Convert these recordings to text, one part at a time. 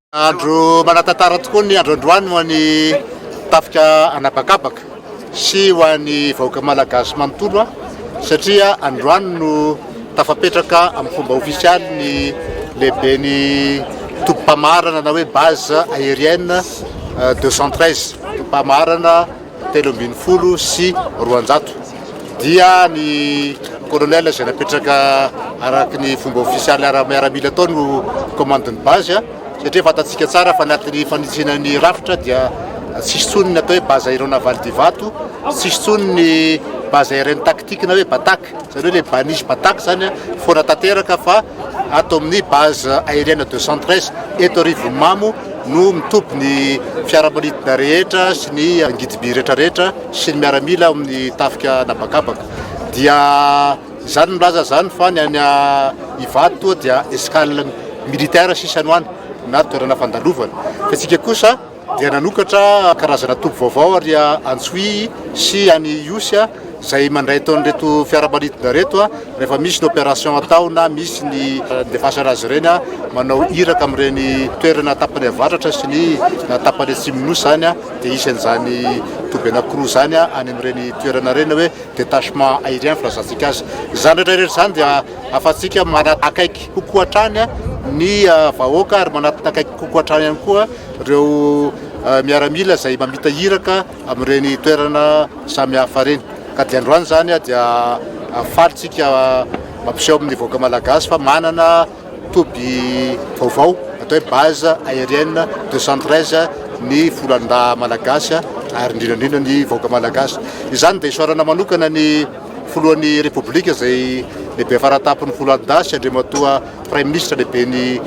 Andro manatantara tokoa ny andro androany ho an'ny tafika anabakabaka sy ho an'ny vahoaka malagasy manontolo satria androany no tafapetraka amin'ny fomba ofisialy ny lehibe ny tobim-pamarana na hoe base aérienne 213 euh, tobim-pamarana telo ambin'ny folo sy roanjato dia ny colonel izay napetraka araka ny fomba ofisialy miaramila atao no commande ny base satria fantatsika tsara fa anatin'ny fanitsiana ny rafitra dia tsisy tsony ny atao hoe base aéronavale divato tsisy tsony ny base aérienne tactique na hoe batak Izany hoe ilay Banish Batak izany an, foana tanteraka fa ato amin'ny base aérienne de Centres eto Rivonimamo no mitoby ny fiaramanidina rehetra sy ny angidim-by rehetrarehetra sy ny miaramila ao amin'ny tafika an'habakabaka. Dia izany milaza izany fa ny any Ivato toa dia escale militaire sisa no any na toerana fandalovana. Fa isika kosa. dia nanokatra karazana toby vaovao ary Antsohihy sy any Ihosy izay mandray tao an'ireto fiaramanidina ireto rehefa misy ny opération atao na misy ny fandefasana azy ireny manao iraka amin'ireny toerana tapany avaratra sy ny tapany atsimon'ny Nosy izany dia hisy an'izany toby anankiroa izany any amin'ireny toerana ireny hoe détachement aérien filazantsika azy. Izany rehetra rehetra izany dia ahafahantsika manakaiky kokoa hatrany ny vahoaka ary manakaiky kokoa hatrany ihany koa ireo miaramila izay mamita iraka amin'ireny toerana samihafa ireny ka dia androany izany dia faly tsika mampiseho amin'ny vahoaka malagasy fa manana toby vaovao atao hoe base aérienne 213 ny folandahy malagasy ary indrindra indrindra ny vahoaka malagasy izany dia isaorana manokana ny filohan'ny repoblika izay lehibe faratapin'ny folandahy sy andriamatoa Praiminisitra lehiben'ny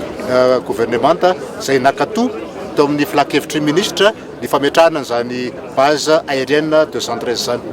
governemanta izay nankato tao amin'ny filan-kevitry ny minisitra ny fametrahana an'izany base aérienne de Zandrez izany.